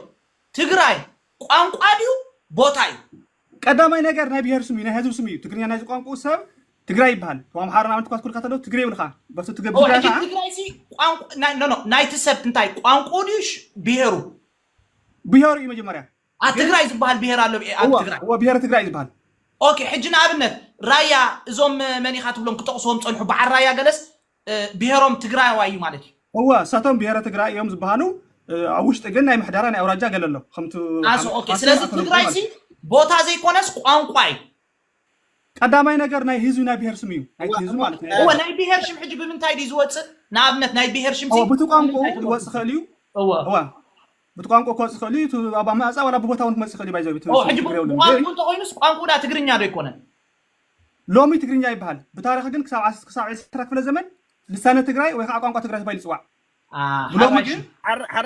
ትግራይ ቋንቋ ድዩ ቦታ እዩ? ቀዳማይ ነገር ናይ ብሄር ስም እዩ ናይ ህዝቢ ስም እዩ ትግርኛ ናይዚ ቋንቁኡ ሰብ ትግራይ ይበሃል ቶም ኣምሓሩ ንኣብነት እኳ ትኩልካ ተለው ትግሬ ይብልኻ በሱ ትገብ ኦ ትግራይ ሕጂ ኻዓ ትግራይ ሲ ቋንቋ ናይ ኖ ኖ ናይቲ ሰብ እንታይ ቋንቁኡ ድዩ ሽ- ብሄሩ? ብሄሩ እዩ መጀመርያ ኣብ ግን ትግራይ ዝበሃል ብሄር ኣሎ ብሄ- ኣብ እወ ትግራይ እወ ብሄረ ትግራይ ዝበሃል ኦኬ ሕጂ ንኣብነት ራያ እዞም እ፣ መን ኢኻ ትብሎም ክጠቕስዎም ጸንሑ በዓል ራያ ገለስ እ፣ ብሄሮም ትግራዋይ እዩ ማለት እዩ እወ እሳቶም ብሄረ ትግራይ እዮም ዝበሃሉ እ፣ ኣብ ውሽጢ ግን ናይ ምሕደራ ናይ ኣውራጃ ገለ ኣሎ ከምቲ ኣስ ሓመድ ኦኬ ሓማሴን ስለዚ ኣተነብሩ ትግራይ ማለት ሲ እዩ ቦታ ዘይኮነስ ቋንቋ እዩ ቀዳማይ ነገር ናይ ህዝቢ ናይ ብሄር ስም እዩ ናይቲ ህዝቢ ማለት ናይ እወ ናይ ብሄር ሽም ሕጂ ብምንታይ ድዩ ዝወጽእ ንኣብነት ናይ ብሄር ሽም እወ ብቲ ቋንቋኡ ክወጽእ ይኽእል እዩ እወ እወ ብቲ ቋንቋ ክወጽእ ይኽእል እዩ እቲ ኣብ ኣመጻጽኣ ዋላ ብቦታ እውን ክመጽእ ይኽእል እዩ ባይዘ እቲ ሕጂ ትግሬ የብሉን ግን ብቋንቋኡ እንተኾይኑስ ቋንቋኡ ድኣ ትግርኛ ዶ ኣይኮነን ሎሚ ትግርኛ ይበሃል ብታሪኽ ግን ክሳብ ክሳብ ዕስራ ክፍለ ዘመን ልሳነ ትግራይ ወይ ከዓ ቋንቋ ትግራይ ተባሂሉ ይጽዋዕ ሎሚ ግን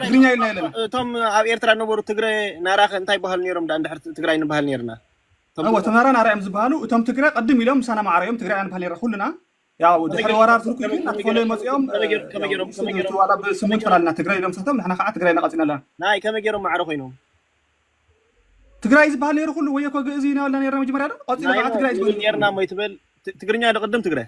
ትግርኛ ኢልና ኣለና እቶም ኣብ ኤርትራ ነበሩ ትግረ ናራ እንታይ ይበሃሉ ነይሮም ዳ እንድሕር ትግራይ ንበሃል ነርና እወ እቶም ናራ ናራ እዮም ዝበሃሉ እቶም ትግረ ቅድም ኢሎም ምሳና ማዕረ እዮም ትግራይ ንበሃል ነርና ኩሉና ያው ድሕሪ ወራር ትርኩ ግን ናተፈለ መፅኦም ዋላ ብስሙን ተላልና ትግራይ ኢሎም ሰቶም ንሕና ከዓ ትግራይ ናቐፂና ኣለና ናይ ከመይ ገይሮም ማዕረ ኮይኖም ትግራይ ዝበሃል ነይሩ ኩሉ ወይ እኮ ግእዝ ኢና ኢልና ነርና መጀመርያ ዶ ቀፂሉ ከዓ ትግራይ ዝበሃል ነርና ሞ ይትበል ትግርኛ ዶ ቅድም ትግራይ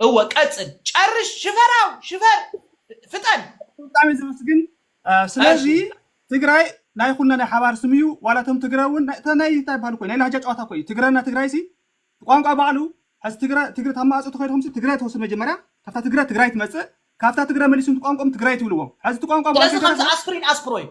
እወ ቀጽል ጨርሽ ሽፈራው ሽፈር ፍጠን። ብጣዕሚ ዝምስግን ስለዚ ትግራይ ናይ ኩልና ናይ ሓባር ስም እዩ ዋላ እቶም ትግረ እውን ናይ እታ ናይ እንታይ ይበሃሉ እኮ ናይ ላህጃ ጨዋታ እኮ እዩ ትግረና ትግራይ ሲ ቋንቋ ባዕሉ ሕዚ ትግረ ትግረ ታብ ማእጾ ተኸይድኩም ሲ ትግረ ትወስድ መጀመርያ ካብታ ትግረ ትግራይ ትመጽእ ካብታ ትግረ መሊስኩም ቋንቋኦም ትግራይ ትብልዎም ሕዚ እቲ ቋንቋ ባዕሉ ስለዚ ከምዚ ከይተረፈ ኣስፕሪን ኣስፕሮይን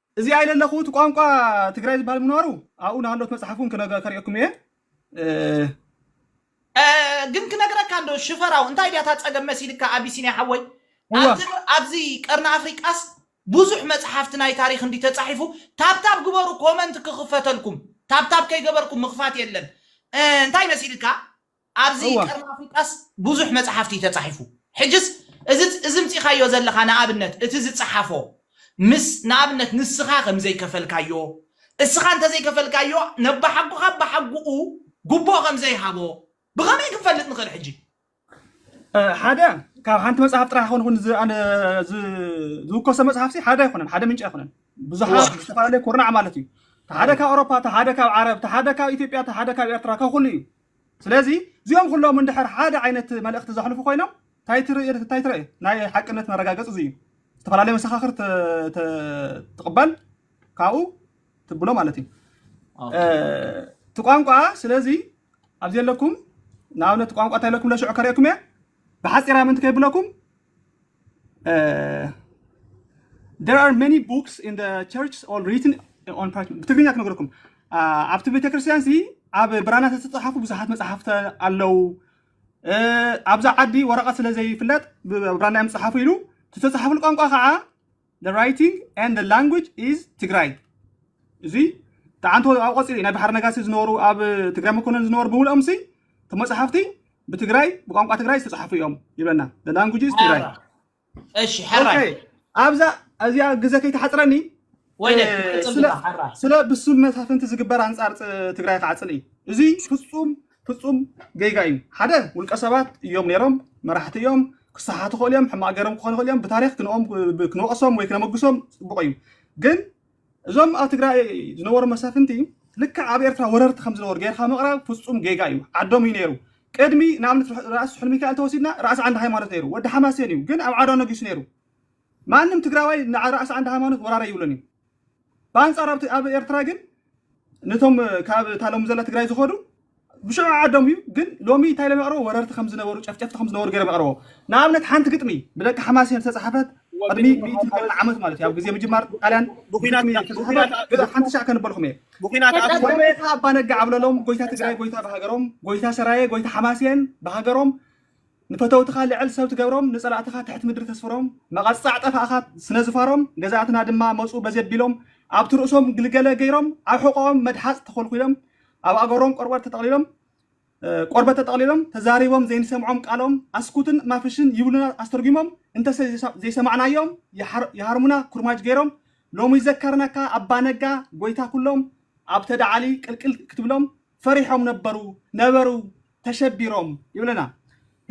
እዚኣ ኢለ ኣለኹ እቲ ቋንቋ ትግራይ ዝበሃል ምንባሩ ኣብኡ ናሃሎት መፅሓፍ እውን ከሪኤኩም እየ እ ግን ክነግረካ እንዶ ሽፈራው እንታይ ድያ እታ ጸገም መሲልካ ኣቢሲንያ ሓወይ እዋ ኣብዚ ኣብዚ ቀርኒ ኣፍሪቃስ ብዙሕ መጽሓፍቲ ናይ ታሪክ እንዲ ተጻሒፉ ታብታብ ግበሩ ኮመንት ክኽፈተልኩም ታብታብ ከይገበርኩም ምኽፋት የለን እ፣ እንታይ መሲልካ ኣብዚ ቀርኒ ኣፍሪቃስ ብዙሕ መጽሓፍቲ እዩ ተጻሒፉ። ሕጅስ እዚ እዚ ኣምጺኻዮ ዘለኻ ንኣብነት እቲ ዝጸሓፎ ምስ ንኣብነት ንስኻ ከም ዘይከፈልካዮ እስኻ እንተ ዘይከፈልካዮ ነባሓጎኻ ኣባሓጉኡ ጉቦ ከም ዘይሃቦ ብኸመይ ክንፈልጥ ንኽእል ሕጂ? ሓደ ካብ ሓንቲ መጽሓፍ ጥራሕ ኮን ኩን ዝውከሶ መጽሓፍሲ ሓደ ኣይኮነን፣ ሓደ ምንጭ ኣይኮነን። ብዙሓት ዝተፈላለዩ ኩርናዕ ማለት እዩ። ሓደ ካብ ኣውሮፓ፣ ሓደ ካብ ዓረብ፣ ሓደ ካብ ኢትዮጵያ፣ ሓደ ካብ ኤርትራ፣ ካብ ኩሉ እዩ። ስለዚ እዚኦም ኩሎም እንድሕር ሓደ ዓይነት መልእኽቲ ዘሕልፉ ኮይኖም እንታይ ትርኢ እንታይ ትርኢ ናይ ሓቅነት መረጋገፂ እዚ እዩ ዝተፈላለየ መሰኻኽር ትቕበል ካብኡ ትብሎ ማለት እዩ እቲ ቋንቋ ስለዚ ኣብዚ ኣለኩም ንኣብነት ቋንቋ እንታይ ኢለኩም ለሽዑ ከርእየኩም እየ ብሓጺራ ምንቲ ከይብለኩም there are many books in the church all written on parchment ብትግርኛ ክነግረኩም ኣብቲ ቤተክርስትያን ሲ ኣብ ብራና ዝተጻሓፉ ብዙሓት መጽሓፍቲ ኣለው ኣብዛ ዓዲ ወረቐት ስለ ዘይፍለጥ ብብራና እዮም ዝጽሓፉ ኢሉ ዝተጻሓፉሉ ቋንቋ ከዓ The writing and the language is ትግራይ እዚ ተዓንቶ ኣብ ቆፂሪ ናይ ባሕር ነጋሲ ዝነበሩ ኣብ ትግራይ መኮነን ዝነበሩ ብምልኦም ሲ ተመፅሓፍቲ ብትግራይ ብቋንቋ ትግራይ ዝተፅሓፉ እዮም ይብለና The language is ትግራይ መረባ እሺ ሐራይ ኦኬ ኣብዛ እዚኣ ግዘ ከይተሓፅረኒ ወይነ እ፣ ትቅፅል ስለ ዲኻ ሐራ ስለ ብሱል መሳፍንቲ ዝግበር ኣንፃር ፅ- ትግራይ ክዓፅል እዩ እዚ ፍፁም ፍፁም ጌጋ እዩ ሓደ ውልቀ ሰባት እዮም ነይሮም መራሕቲ እዮም ክሰሓቱ ክኽእሉ እዮም ሕማቅ ገይሮም ክኾኑ ክኽእሉ እዮም ብታሪክ ክንኦም ክንወቅሶም ወይ ክነመግሶም ፅቡቅ እዩ ግን እዞም ኣብ ትግራይ ዝነበሩ መሳፍንቲ ልክዕ ኣብ ኤርትራ ወረርቲ ከም ዝነበሩ ጌርካ ምቕራብ ፍፁም ጌጋ እዩ ዓዶም እዩ ነይሩ ቅድሚ ንኣብነት ራእሲ ስሑል ሚካኤል ተወሲድና ራእሲ ዓንድ ሃይማኖት ነይሩ ወዲ ሓማሴን እዩ ግን ኣብ ዓዶ ነጊሱ ነይሩ ማንም ትግራዋይ ንራእሲ ዓንድ ሃይማኖት ወራረ ይብሉን እዩ ብኣንጻር ኣብ ኤርትራ ግን ነቶም ካብ እታ ሎሚ ዘላ ትግራይ ዝኸዱ ብሽዑ ዓዶም እዩ ግን ሎሚ እንታይ ኢሎም የቕርቦ ወረርቲ ከም ዝነበሩ ጨፍጨፍቲ ከም ዝነበሩ ገይሮም የቕርቦ ንኣብነት ሓንቲ ግጥሚ ብደቂ ሓማሴን ዝተፃሓፈት ቅድሚ ሚእቲ ቀርኒ ዓመት ማለት እዩ ኣብ ግዜ ምጅማር ጣልያን ብኩናት ግጥሚ እያ ብኩናት ተፃሓፈት ግዳ ሓንቲ ሻዕ ከንበልኩም እየ ብኩናት ኣብ ቀጥል ጎይታ ኣባነጋ ዓብለሎም ጎይታ ትግራይ ጎይታ ብሃገሮም ጎይታ ሰራየ ጎይታ ሓማሴን ብሃገሮም ንፈተውትኻ ልዕል ሰብ ትገብሮም ንጸላእትኻ ትሕት ምድሪ ተስፍሮም መቐጻዕ ጠፋእኻ ስለ ዝፋሮም ገዛእትና ድማ መጹ በዚ ኣቢሎም ኣብቲ ርእሶም ግልገለ ገይሮም ኣብ ሕቖኦም መድሓጽ ተኾልኲሎም ኣብ ኣእገሮም ቆርበት ተጠቕሊሎም ቆርበት ተጠቕሊሎም ተዛሪቦም ዘይንሰምዖም ቃሎም ኣስኩትን ማፍሽን ይብሉና ኣስተርጒሞም እንተሰ ዘይሰማዕናዮም ይሃርሙና ኩርማጅ ገይሮም ሎሚ ይዘከርናካ ኣባ ነጋ ጎይታ ኩሎም ኣብ ተዳዓሊ ቅልቅል ክትብሎም ፈሪሖም ነበሩ ነበሩ ተሸቢሮም ይብለና።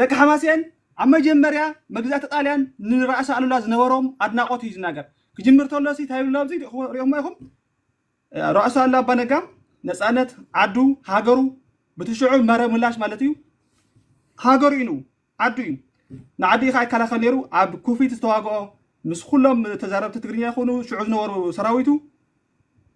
ደቂ ሓማሴን ኣብ መጀመርያ መግዛእቲ ጣልያን ንራእሲ ኣሉላ ዝነበሮም ኣድናቆት እዩ ዝናገር። ክጅምር ተሎ ሲ ታይ ብሎ ኣብዚ ሪኦሞ ኢኹም ራእሲ ኣሉላ ኣባ ነጋ ነፃነት ዓዱ ሃገሩ ብትሽዑ መረ ምላሽ ማለት እዩ ሃገሩ እዩ ዓዱ እዩ ንዓዲ ኢኻ ይከላኸል ነይሩ ኣብ ኩፊት ዝተዋግኦ ምስ ኩሎም ተዛረብቲ ትግርኛ ይኹኑ ሽዑ ዝነበሩ ሰራዊቱ